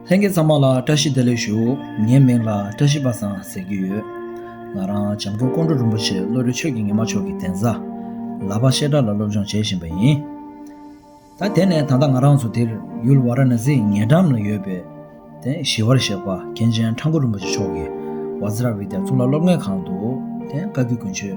ལྷན་རྒྱས་ཚང་མ་ལ་བཀྲ་ཤིས་བདེ་ལེགས་ཞུ། ངའི་མིང་ལ་བཀྲ་ཤིས་པ་སང་ཟེར་གྱི་ཡོད། ང་རང་བྱམས་མགོན་ཀོང་སྤྲུལ་རིན་པོ་ཆེ་བློ་གྲོས་ཆོས་ཀྱི་ཉི་མ་མཆོག་གི་གདན་ས། ལག་པ་བཤད་གྲྭ་ལ་སློབ་སྦྱོང་བྱེད་བཞིན་པ་ཡིན། ད་དེ་ནས་ད་ལྟ་ང་རང་ཚོ་འདིར་ཡུལ་བ་ར་ན་སིའི་ཉེ་འགྲམ་ལ་ཡོད་པའི། བཞི་བར་གཤེགས་པ་མཁན་ཆེན་ཁྲ་འགུ་རིན་པོ་ཆེ་མཆོག་གི་ཝཱ་ཛི་ར་བི་དྷ་གཙུག་ལག་སློབ་གནས་ཁང་དུ། བཀའ་བརྒྱུད་དགུན་ཆོས།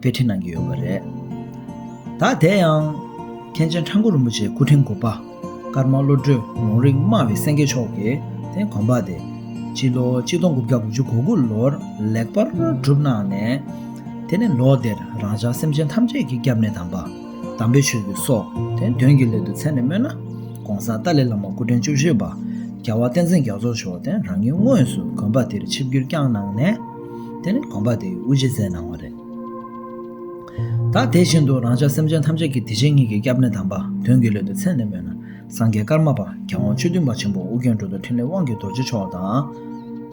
དཔེ་ཁྲིད་གནང་གི་ཡོད་པ་རེད། ད་དེ་ཡང་མཁན་ཆེན་ཁྲ་འགུ་རིན་པོ་ཆེའི་སྐུ་ཕྲེང་དགུ་པ་ཀརྨ་བློ་གྲོས་ལུང་རིགས་སྨྲ་བའི་སེང་གེ་མཆོག་གིས་དེ་གོམ་པ་དེ་སྤྱི་ལོ་གཅིག་སྟོང་དགུ་བརྒྱ་དགུ་བཅུ་གོ་དགུ་ལོར་ལེགས་པར་གྲུབ་གནང་ནས། དེ་ནས་ལོ་དེར་རང་ཅག་སེམས་ཅན་ཐམས་ཅད་ཀྱི་སྐྱབས་གནས་དམ་པ་དམ་པའི་ཆོས་ཀྱི་སྲོག་དེ་འདོན་གྱི་སླད་དུ་མཚན་ནས་སྨོས་ན ྋགོང་ས་ཏཱ་ལའི་བླ་མ་སྐུ་ཕྲེང་བཅུ་བཞི་པ་རྒྱལ་བ་བསྟན་འཛིན་རྒྱ་མཚོ་མཆོག་དེ་རང་ཉིད་དངོས་སུ་གོམ་པ་དེར་ཆིབས་བསྒྱུར་བསྐྱངས་གནང་ནས། དེ་ནི་དགོངས་པ་དེ་དབུ་འབྱེད་མཛད་གནང་བ་རེད། ད་དེ་བཞིན་དུ་རང་ཅག་སེམས་ཅན་ཐམས་ཅད་ཀྱི་དེ་བཞིན་ཉིད་ཀྱི་སྐྱབས་གནས་དམ་པ་དོན་གྱི་བློས་དེ་མཚན་ནས་སྨོས་ན་སངས་རྒྱས་ཀརྨ་པཀྵ་དབང་ཆོས་འདུལ་མ་ཆེན་པོ་ཨོ་རྒྱན་འགྲོ་ལྡོག་ཕྲིན་ལས་དབང་གི་རྡོ་རྗེ་མཆོག་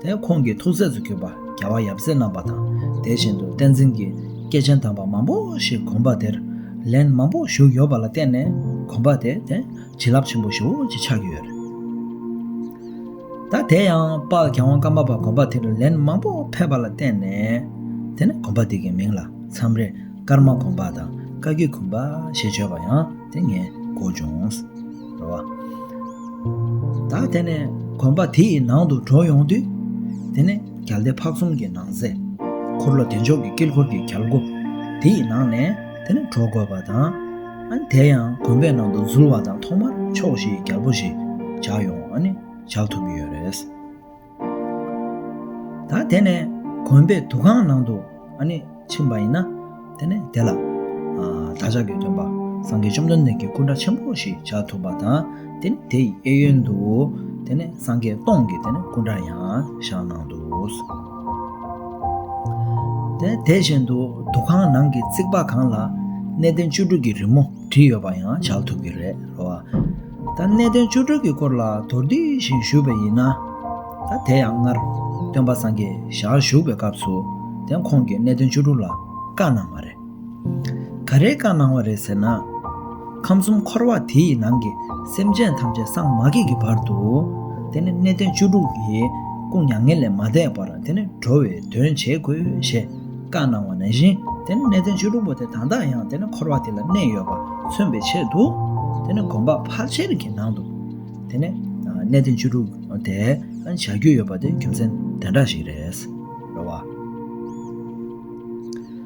དང། ཁོང་གི་ཐུགས་སྲས་སུ་གྱུར་པ་རྒྱལ་བ་ཡབ་སྲས་རྣམས་པ་དང་དེ་བཞིན་དུ་བསྟན་འཛིན་གྱི་སྐྱེས་ཆེན་དམ་པ་མང་པོ་ཞིག་དགོངས་པ་དེར་ལན་མང་པོ་ཞུགས་ཡོད་པ་ལ་བརྟེན་ནས་དགོངས་པ་དེ་བྱིན་རླབས་ཆེན་པོ་ཞེ་བོ་ཅིག་ཆགས་ཀྱི་ཡོད་རེད། ད་དེ་ཡང་དཔག་གྱ་བང་ཀ་མ་པ་གོམ་པ་དེ་རུ་ལན་མང་པོ་ཕེབས་པ་ལ་བརྟེན་ནས། དེ་ནས་གོམ་པ་དེ་གའི་མིང་ལ་མཚམས་རེ་སྐར་མ་གོམ་པ་དང་བཀའ་བརྒྱུད་གོམ་པ་ཞེས་བརྗོད་པ་ཡང་དེ་ངས་གོ་བྱུང། རེད་བ། ད་དེ་ནས་གོམ་པ་དེ་ཡི་ནང་དུ་འགྲོ་ཡོང་དུས། དེ་ནས་གལ་ཏེ་ཕག་ཚོམ་གྱི་ནང་གཟེ་འཁོར་ལོ་བདེ་མཆོག་གི་དཀྱིལ་འཁོར་གྱི་གལ་སྒོ་དེ་ཡི་ནང་ནས། དེ་ནི་གྲོགས་དགོས་པ་དང། དེ་ཡང་གོམ་པའི་ནང་དུ་འཛུལ་བ་དང་ཐོག་མར་ཕྱོགས་ཞེས་རྒྱལ་པོ་ཞེས་བྱ་ཡང་བཞག་ཐུབ་ཀྱི་ཡོད་རེད། ད་དེ་ནས་གོམ་པའི་དུ་ཁང་ནང་དུ་ཕྱིན་པ་ཡིན་ན་དེ་ནི་དེ་ལ་བདག་ཅག་གི་སྟོན་པ་སངས་རྒྱས་བཅོམ་ལྡན་འདས་ཀྱི་སྐུ་འདྲ་ཆེན་པོ་ཞེས་བྱ་ཐུབ་པ་དང་དེ་ནི་དེ་ཡི་གཡས་གཡོན་དུ་དེ་ནི་སངས་རྒྱས་སྟོང་གི་སྐུ་འདྲ་ཡང་བཞག་གནང་འདུག། དེ་བཞིན་དུ་འདུ་ཁང་ནང་གི་རྩིག་པ་གང་ལ་གནས་བརྟན་བཅུ་དྲུག་གི་རི་མོ་བྲིས་ཡོད་པ་ཡང་བྱ་ཐུབ་ཀྱི་རེད་རོ། ད་གནས་བརྟན་བཅུ་དྲུག་གི་སྐོར་ལ་དོར་བསྡུས་ཤིག་ཞུས་པ་ཡིན་ན། ད་དེ་ཡང་སྔར་སྟོན་པ་སངས་རྒྱས་ཞལ་བཞུགས་པའི་སྐབས་སུ་དེ་ཁོང་གིས་གནས་བརྟན་བཅུ་དྲུག་ལ་བཀའ་གནང་བ་རེད། ག་རེའི་བཀའ་གནང་བ་རེད་ཟེར་ན། ཁམས་གསུམ་འཁོར་བ་དེ་ཡི་ནང་གི་སེམས་ཅན་ཐམས་ཅད་སངས་མ་རྒྱས་ཀྱི་བར་དུ། དེ་ནི་གནས་བརྟན་བཅུ་དྲུག་གི་སྐུ་མྱ་ངན་ལས་མ་འདས་པར་དེ་ནི་འགྲོ་བའི་དོན་བྱེད་དགོས་ཞེས་བཀའ་གནང་བ་ནང་བཞིན་དེ་ནི་གནས་བརྟན་བཅུ་དྲུག་པོ་དེ་དང་དག་ཡང་དེ་ནི་འཁོར་བ་དེ་ལ་གནས་ཡོད་པར་མཚོན་པའི་ཆེད་དུ། དེ་ནི་དགོན་པ་ཕར་ཆེར་གྱི་ནང་དུ་དེ་ནི་གནས་བརྟན་བཅུ་དྲུག་དེ་བྱ་རྒྱུ་ཡོད་པ་དེ་རྒྱུ་མཚན་དེ་འདྲ་ཞིག་རེད།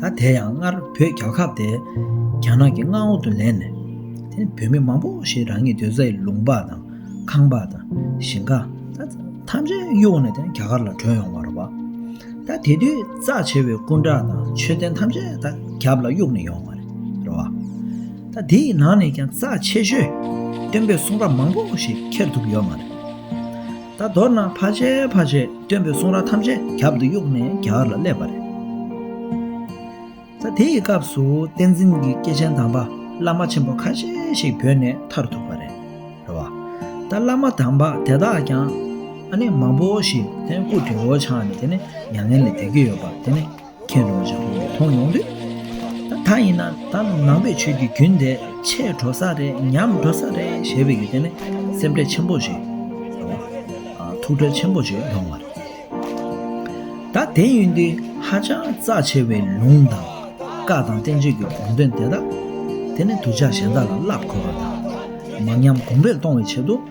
ད་དེ་ཡང་སྔར་བོད་རྒྱལ་ཁབ་དེ་རྒྱ་ནག་གི་མངའ་འོག་ཏུ་ལེན་ནས་དེ་བོད་མི་མང་པོ་ཞིག་རང་ཉིད་སྡོད་ས་ཡི་ལུང་པ་དང་ཁང་པ་དང་ཞིང་ཁ་ཐམས་ཅད་གཡུགས་ནས་དེ་རྒྱ་གར་ལ་བྲོས་ཡོང་བ་རེད་བ། ད་དེ་དུས་རྩ་ཆེ་བའི་སྐུ་འདྲ་དང་མཆོད་རྟེན་ཐམས་ཅད་ད་རྒྱབ་ལ་གཡུགས་ནས་ཡོང་བ་རེད་བ། ད་དེ་ཡི་ནང་ནས་ཀྱང་རྩ་ཆེ་ཤོས་སྟོན་པའི་གསུང་རབ་མང་པོ་ཞིག་ཁྱེར་ཐུབ་ཡོད་མ་རེད། ད་མདོར་ན་བྷ་ཇའི་བྷ་ཇའི་སྟོན་པའི་གསུང་ར་ཐམས་ཅད་རྒྱབ་ཏུ་གཡུགས་ནས་རྒྱ་གར་ལ་སླེབས་པ་རེད། ད་དེ་ཡི་སྐབས་སུ་བསྟན་འཛིན་གྱི་སྐྱེས་ཆེན་དམ་པ་བླ་མ་ཆེན་པོ་ཁ་ཤས་ཤིག་བོད་ནས་ཐར་ཐུབ་པ་རེད། རེད་བ། ད་བླ་མ་དམ་པ་དེ་དག་ཀྱང་ཨ་ནེ་མང་པོ་ཞིག་དེ་སྐུ་བྲེ་བོ་ཆགས་ནས་དེ་ནི་མྱ་ངན་ལས་འདས་ཀྱི་ཡོད་པ་དེ་ནི། མཁྱེན་རུང་ཅང་ཁོང་གིས་མཐོང་མྱོང་དུས། ད་ཡིན་ན་ད་ནང་པའི་ཆོས་ཀྱི་རྒྱུན་དེ་ཆད་འགྲོ་ས་རེད་ཉམས་འགྲོ་ས་རེད་ཞེས་པའི་ཡུལ་དེ་ནི་སེམས་ཁྲལ་ཆེན་པོ་ཞིག་དང། ཐུགས་ཁྲལ་ཆེན་པོ་ཞིག་ཡོང་བ་རེད། ད་དེ་ཡིན་དུས་ཧ་ཅང་རྩ་ཆེ་བའི་ལུང་དང་བཀའ་དང་བསྟན་བཅོས་ཀྱི་དགོངས་དོན་དེ་དག་དེ་ནི་གདུལ་བྱ་གཞན་དག་ལ་བསླབ་དགོས་པ་དང། མ་ཉམས་གོང་འཕེལ་གཏོང་བའི་ཆེད་དུ།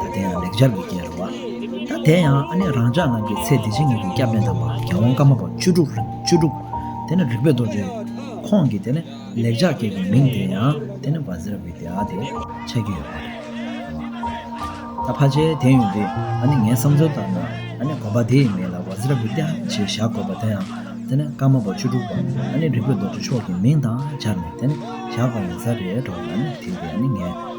ད་དེ་ཡང་ལེགས་སྦྱར་བའི་སྐྱེས་རུང་བ། ད་དེ་ཡང་ཨ་ནེ་རང་ཅག་རྣམས་ཀྱི་ཚེ་འདི་ཕྱི་གཉིས་ཀྱི་སྐྱབས་གནས་དམ་པ་རྒྱལ་དབང་བཀའ་མ་པ་བཅུ་དྲུག་རིན་པོ་བཅུ་དྲུག། དེ་ནི་རིག་པའི་རྡོ་རྗེ། ཁོང་གིས་དེ་ནི་ལེགས་སྦྱར་སྐྱེས་ཀྱི་མིང་དེ་ཡང་དེ་ནི་བ་ཟེར་བའི་དེའ་དེ་ཆགས་ཀྱི་ཡོད་པ་རེད། ད་ཕ་ཆའི་དེ་ཡོད་དུས་ཨ་ནེ་ངའི་བསམ་ཚུལ་ལྟར་ན་ཨ་ནེ་གོམ་པ་དེའི་མིང་ལ་བ་ཟེར་བའི་དེའ་ཞེས་བཞག་དགོས་པ་དེ་ཡང་དེ་ནི་བཀའ་མ་པ་བཅུ་དྲུག་པ་ཨ་ནེ་རིག་པའི་རྡོ་རྗེ་མཆོག་གི་མིང་དང་སྦྱར་ནས་དེ་ནི་བཞག་པ་ཡིན་ས་རེད་དྲོ་ཨ་ནེ་དེ་ཡོད་དུས་ཨ་ནེ་ངའི།